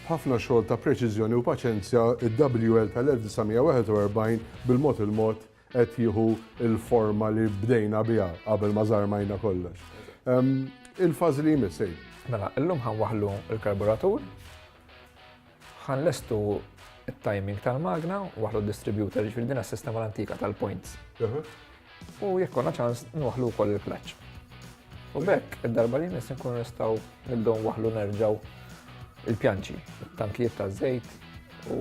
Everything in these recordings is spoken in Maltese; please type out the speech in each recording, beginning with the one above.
B'ħafna xogħol ta' preċiżjoni u paċenzja, id-WL tal-1941 bil-mod il-mod qed jieħu l-forma li bdejna biha qabel ma żarmajna kollox. Il-fażi li jmiss sejn. Mela, illum ħan waħlu l-karburatur, ħan lestu il-timing tal-magna, waħlu distributor, ġifiri dina s-sistema l-antika tal-points. U jekk konna ċans, nwaħlu wkoll il-clutch. U b'hekk, id-darba li jmiss inkunu nistgħu nibdew nwaħħlu nerġgħu il-pjanċi, it-tankijiet taż-żejt u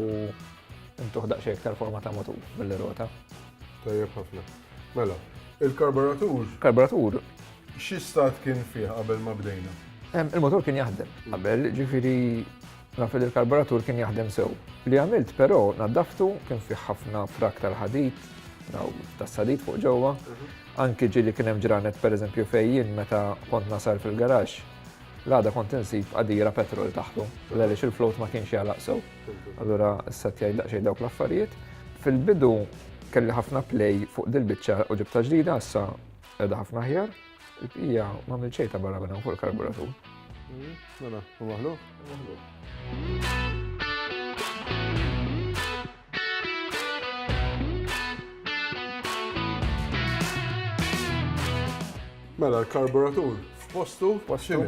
ntuħ daqsxejn iktar forma ta' motur billi rota. Tajjeb ħafna. Mela, il-karburatur. Karburatur. Xi stat kien fih qabel ma bdejna? Il-motor kien jaħdem qabel, ġifieri Naf li l-karburatur kien jaħdem sew. Li għamilt però naddaftu kien fih ħafna frak tal-ħadid, tas-sadid fuq ġewwa. Anki ġieli kien hemm ġranet pereżempju fejn jien meta kont nasal fil-garaxx l-għada kont insib qadira petrol taħtu, għaliex il-float ma kienx jgħalaq sew. Allura issa tgħid daqsxejn dawk l-affarijiet. Fil-bidu kelli ħafna play fuq dil-biċċa u ġibta ġdida, issa qiegħda ħafna aħjar. Il-bqija ma għamil xejn ta' barra minn fuq il-karburatur. Mm-hmm. Mela, u maħlu? Mela, l-karburatur f'postu postu.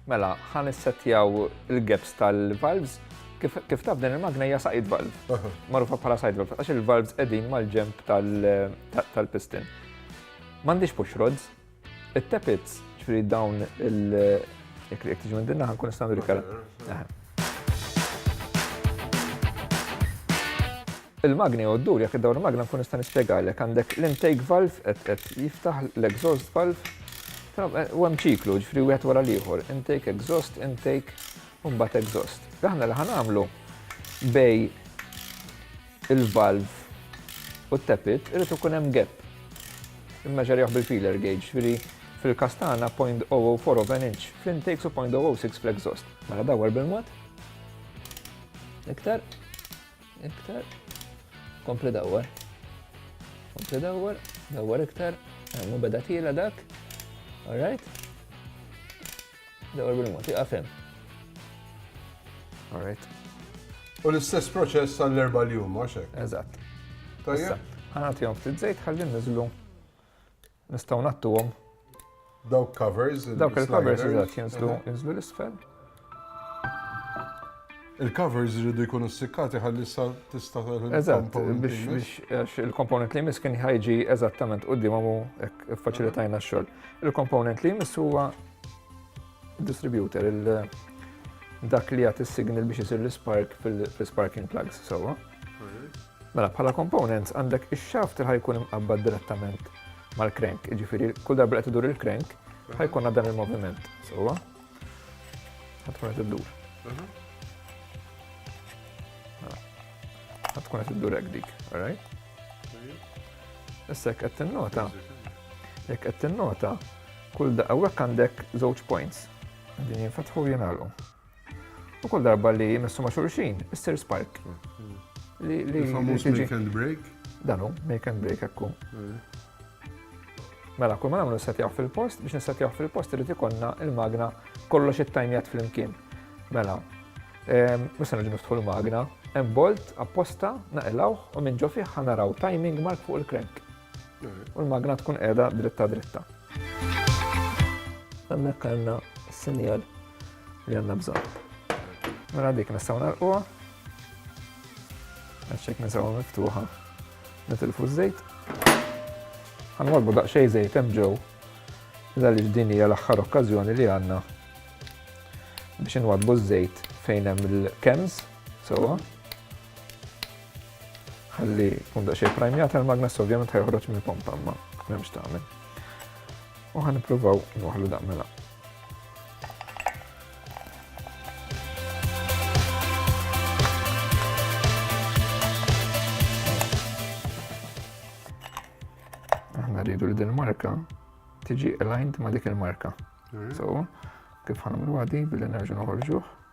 Mela, ħan issettjaw il-gaps tal-valves kif taf din il-magna hija saqid valve. Marufa bħala saqid valve, għax il-valves qegħdin mal-ġemp tal-piston. M'għandix push rods. It-tepits, ġifieri dawn il- jekk jekk tiġi minn dinna ħankun nista' nagħmlu kara. Il-magni u d-dur, jekk id-dawr magna nkun nista' nispjegalek, għandek l-intake valve qed qed jiftaħ l-exhaust valve, eh, u hemm ċiklu, ġifri wieħed wara l-ieħor, intake exhaust, intake u mbagħad exhaust. Aħna li ħanamlu bej il-valv u t-tappit irid ikun hemm gap. Immeġerjawh bil-feeler gauge, jiġifieri fil-każ tagħna 0.004 of an inch fl-intakes u 0.006 fl-exhaust. Mela dawwar bil-mod. Iktar. Iktar. Kompli dawwar. Kompli dawwar. Dawwar iktar. Hemm beda tiela dak. All right. Dawar bil-mod, iqaf hemm. All right. U l-istess proċess għall-erba li huma xek. Eżatt. Tajjeb. Ħanatihom ftit żejt ħalli niżlu. Nistgħu nattuhom. Dawk covers. Dawk il-covers eżatt jinżlu jinżlu l-isfel. Il-covers iridu jkunu ssikkati ħalli issa tista' Eżatt, biex il-komponent li jmiss kien ħajġi eżattament qudiem u faċilitajna x-xogħol. Il-komponent li jmiss huwa distributor, dak li jagħti signal biex isir l-spark fil-sparking plugs sewwa. Mela bħala komponent għandek ix-shaft li ħajkun imqabbad direttament mal-crank, jiġifieri kull darba qed idur il-crank ħajkun dan il-moviment sewwa. tkun qed iddur. Mhm. Mela. Ħadd tkun qed iddur hekk dik, alright? Issa jekk qed tinnota, jekk qed tinnota, kull da hawnhekk għandek żewġ points. Din jinfetħu jingħalqu. U kull darba li jmissu ma' xulxin, issir spark. Mhm. Li li make and break? Danu, make and break ekku. Mhm. Mela, kull ma nagħmlu nissetjaw fil-post, biex nissetjaw fil-post irid ikollna il-magna kollox it-tajmjat flimkien. Mela, ehm, musa nġu niftħu l-magna, hemm bolt apposta naqilawh u minn ġo fih ħanaraw timing mark fuq il-krenk. U l-magna tkun qiegħda dritta dritta. Hemmhekk għandna s-sinjal li għandna bżonn. Mela dik nistgħu narquha. Għaxek nistgħu miftuħa. Nitilfu ż-żejt. Ħanwarbu daqsxejn żejt hemm ġew. Għaliex din hija l-aħħar okkażjoni li għandna biex inwadbu ż-żejt fejn hemm il-kems sewwa. Ħalli kun daqsxejn prajmjat il-magnes ovvjament ħajħroġ mill-pompa ma m'hemmx tagħmel. U ħan nippruvaw nwaħlu daqmela. Mela. rridu li din marka tiġi aligned ma dik il-marka. So, kif ħanamlu għadi billi nerġu noħorġuħ.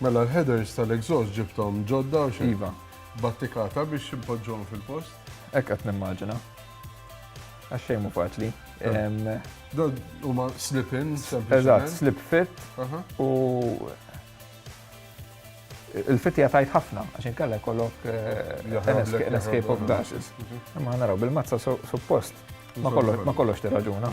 Mela l-headers tal-exhaust ġibthom ġodda u xejn? Iva. Battikata biex impoġġuhom fil-post? Hekk qed nimmaġina. Għax xejn mhu faċli. Dan huma slip-in sempliċement. Eżatt, slip fit u il-fit jatajt ħafna, għax inkella kollok eh, an escape of gashes. Mhm. Imma naraw bil-mazza suppost ma kollox tirraġuna.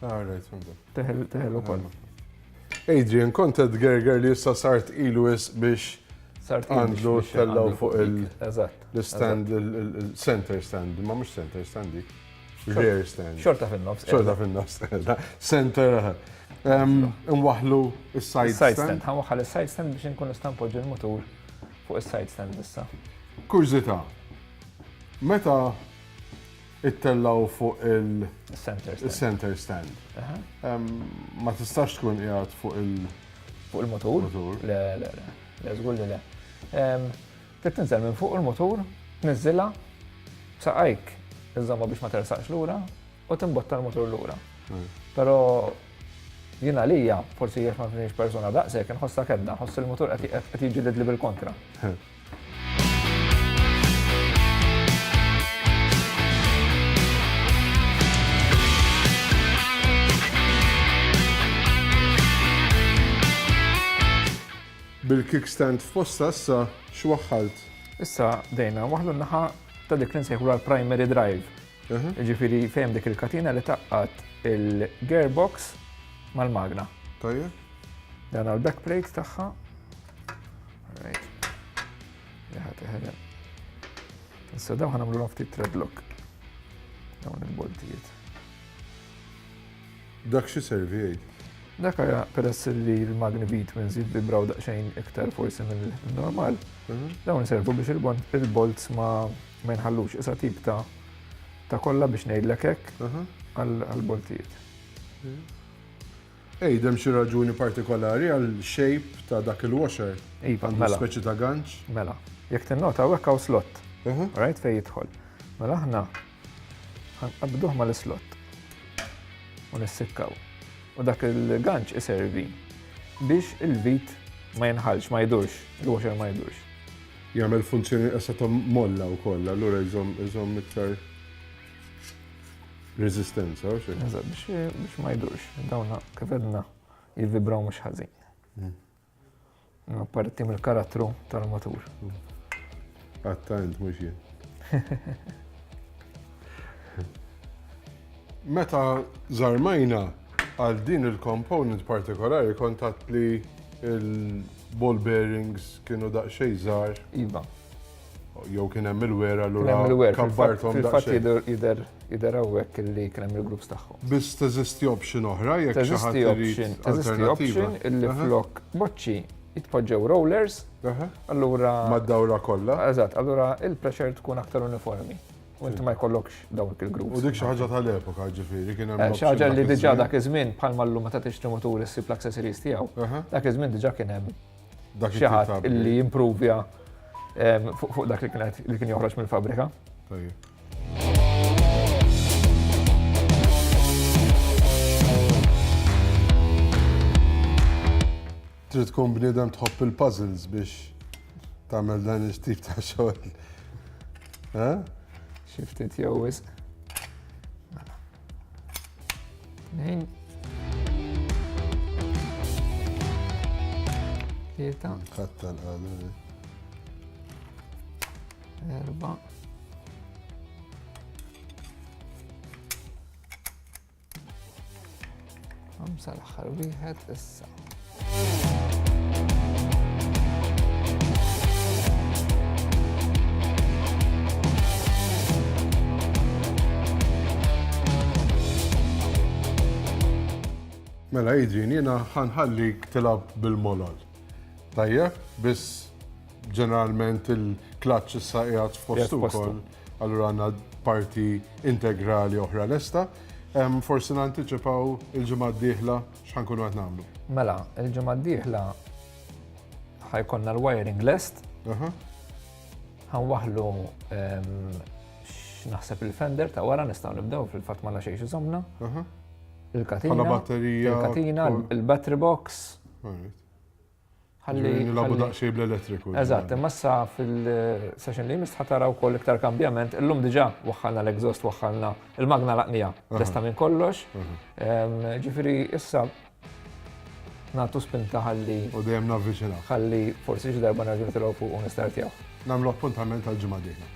Teħel, teħel u koll. Adrian, kont qed gerger li issa sart ilu is biex sart għandlu tellaw fuq il-stand, il-center stand, ma mux center stand dik. Rear stand. Xorta fin-nofs. Xorta fin-nofs. Center. Nwaħlu il-side stand. stand. Għanwaħħal il-side stand biex nkun istampo ġil motor fuq il-side stand issa. Kurzita, meta ittellgħu fuq il Center stand. center stand. Aha. Em, Ma tistax tkun qiegħed fuq il Fuq il-motur? Motur. Le, le, le. Le, żgur li le. Em, Trid tinżel minn fuq il-motur, tniżżilha, saqajk iżomma biex ma tersaqx lura u timbotta l-motur lura. Però jien għalija, forsi jekk ma kienx persuna daqshekk, inħossha kedda, nħoss il-motur qed qed jiġġieled li bil-kontra. Bil-kickstand f'posta issa x'waħħalt? Issa bdejna waħlu naħa ta' dik li nsejħu l-primary drive. Ġifiri fejn dik il-katina li taqqat il-gearbox mal-magna. Tajjeb. Dan għal back plate tagħha. Issa dawn ħanamlu l ftit treadlock. Dawn il-boltijiet. Dak xi servi għid? Dak għaja peress li l-magni bit minn zid bibraw daqxejn iktar forsi minn normal, mhm. dawn servu biex il-bolts ma ma jinħallux isa tip ta' ta' kolla biex ngħidlek hekk mhm. għal-boltijiet. Mhm. Għid, hemm xi raġuni partikolari għal shape ta' dak il-washer? Iva, mela. Għandu speċi ta' ganċ? Mela. Jekk tinnota hawnhekk hawn slot. Aha. Rajt fejn jidħol. Mela aħna ħanqabduh mal-islott u nissikkaw. U dak il-ganċ iservi biex il-vit ma jinħalx, ma jdurx, il-washer ma jdurx. Jagħmel funzjoni qesa ta' molla wkoll, allura jżomm iktar. Resistenza, u xejn. Eżatt, biex biex ma jdurx, dawna kif edna jivvibraw mhux ħażin. Ma parti mill-karattru tal-matur. Għatta int mhux jien. Meta żarmajna għal din il-component partikolari kontat li il-ball bearings kienu daqsxejn żgħar. Iva. Jew kien hemm il-wera l Hemm il-wer, fil-fatt jidher jidher hawnhekk li kien hemm il-groups tagħhom. Biss teżisti option oħra jekk xi ħadd irid. Teżisti option illi flok boċċi jitpoġġew rollers, allura. Mad-dawra kollha. Eżatt, allura il-pressure tkun aktar uniformi. U inti ma jkollokx dawk il-grupp. U dik xi ħaġa tal-epoka ġifieri kien hemm. Xi ħaġa li diġà dak iż-żmien bħalma llum meta tixtri mutur issib l-accessories tiegħu. Dak iż-żmien diġà kien hemm xi ħadd li jimprovja fuq dak li kien joħroġ mill-fabrika. Trid tkun bniedem tħobb il-puzzles biex tagħmel dan il-tip ta' xogħol. Xiftit jew wisq. Tlieta. Katta l-għadu. Erba. Għamsa l-axħar wieħed issa. Mela Adrian, jena ħanħallik tilab bil-molol. Tajjeb, biss ġeneralment il-klaċ issa qiegħed fost ukoll. Allura għandna parti integrali oħra lesta. Forsi nantiċipaw il-ġimgħa d-dieħla x'ħa nkunu qed nagħmlu. Mela, il-ġimgħa d-dieħla ħajkonna l-wiring lest. Ħanwaħlu naħseb il-fender ta' wara nistgħu nibdew fil-fatt ma xejn iżomna. Il-katina. Il-katina, il-battery box. Ħalli. Nilagħbu daqsxejn bl-elettriku. Eżatt, imma issa fil-session li jmiss tħa tara wkoll iktar kambjament. Illum diġà waħħalna l-exhaust, waħħalna l-magna l-għaqnija lesta minn kollox. Ġifieri issa nagħtu spinta ħalli. U dejjem navviċinaw. Ħalli forsi xi darba nerġa' nitilgħu fuq u nistartjaw. Nagħmlu appuntament għall-ġimgħa d-dieħla.